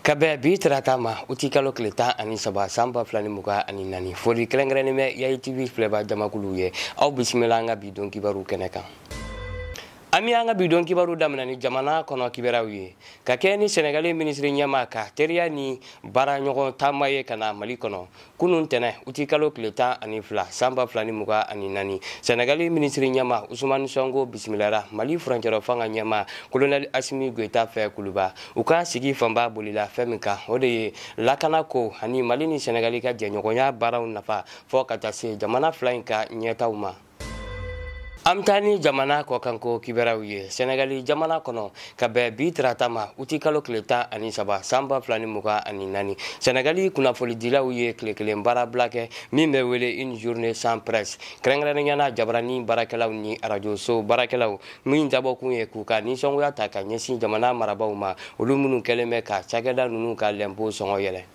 ka bɛn bi tarata ma uti kalo tile tan ani saba san ba fila ni muga ani naani foli kɛrɛnkɛrɛnnen bɛ yayi tv filɛba jamakuluw ye aw bisimila an ka bi don kibaru kɛnɛ kan an bɛ an ka bi don kibaru daminɛ ni jamana kɔnɔ kibaruw ye ka kɛ ni sɛnɛgali minisiri ɲɛma ka teriya ni baara ɲɔgɔn taama ye ka na mali kɔnɔ kunun tɛnɛ uti kalo tile tan ani fila san ba fila ni muga ani naani sɛnɛgali minisiri ɲɛma usumani sɔnko bisimilara mali furancɛrɔ fanga ɲɛma kolonɛli asimi goyita fɛ kuluba u ka sigi fanba bolila fɛn min kan o de ye lakana ko ani mali ni sɛnɛgali ka jɛɲɔgɔnya baaraw nafa fɔ ka taa se jamana fila in ka ɲɛtaw ma an bɛ taa ni jamana kɔkanko kibaruyaw ye sɛnɛgali jamana kɔnɔ ka bɛn bi tarata ma uti kalo tile tan ani saba san ba fila ni mugan ani naani sɛnɛgali kunnafolidilaw ye tile kelen baarabila kɛ min bɛ wele une journée sans presse kɛrɛnkɛrɛnnenya na jabarani baarakɛlaw ni arajoso baarakɛlaw min dabɔkun ye k'u ka nisɔngoya ta ka ɲɛsin jamana marabaw ma olu minnu kɛlen bɛ ka cakɛda ninnu ka lɛnpo sɔngɔ yɛlɛ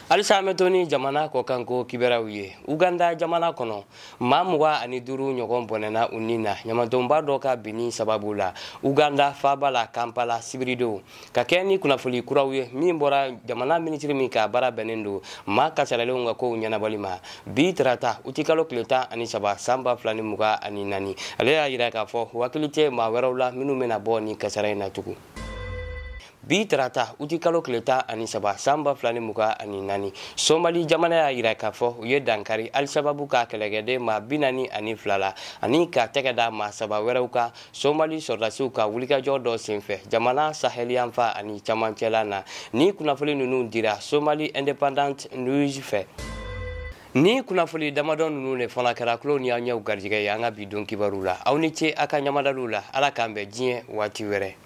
halisa an bɛ to ni jamana kɔkanko kibaruyaw ye uganda jamana kɔnɔ maa mugan ani duuru ɲɔgɔn bɔnɛna u ni na ɲamantonba dɔ ka binni sababu la uganda faaba la kampala sibiridon ka kɛ ni kunnafoli kuraw ye min bɔra jamana minisiri min ka baara bɛnnen don maa kasaralenw ka kow ɲɛnabɔli ma bi tarata utikalo tile tan ani saba san ba fila ni mugan ani naani ale y'a yira k'a fɔ u hakili tɛ maa wɛrɛw la minnu bɛna bɔ nin kasara in na tugun bi tarata uti kalo tile tan ani saba san ba fila ni muga ani naani somali jamana y'a yira k'a fɔ u ye dankari alisababu ka kɛlɛkɛden maa bi naani ani fila la ani ka tɛgɛ da maa saba wɛrɛw kan somali sɔrɔdasiw ka wulikajɔ dɔ senfɛ jamana saheliyanfan ani camancɛla na nin kunnafoli ninnu dira somali independent news fɛ nin kunnafoli damadɔ ninnu de fana kɛra kulo ni aw ɲɛw garijɛgɛ ye an ka bi don kibaru la aw ni ce a ka ɲamadaliw la ala k'an bɛn diɲɛ waati wɛrɛ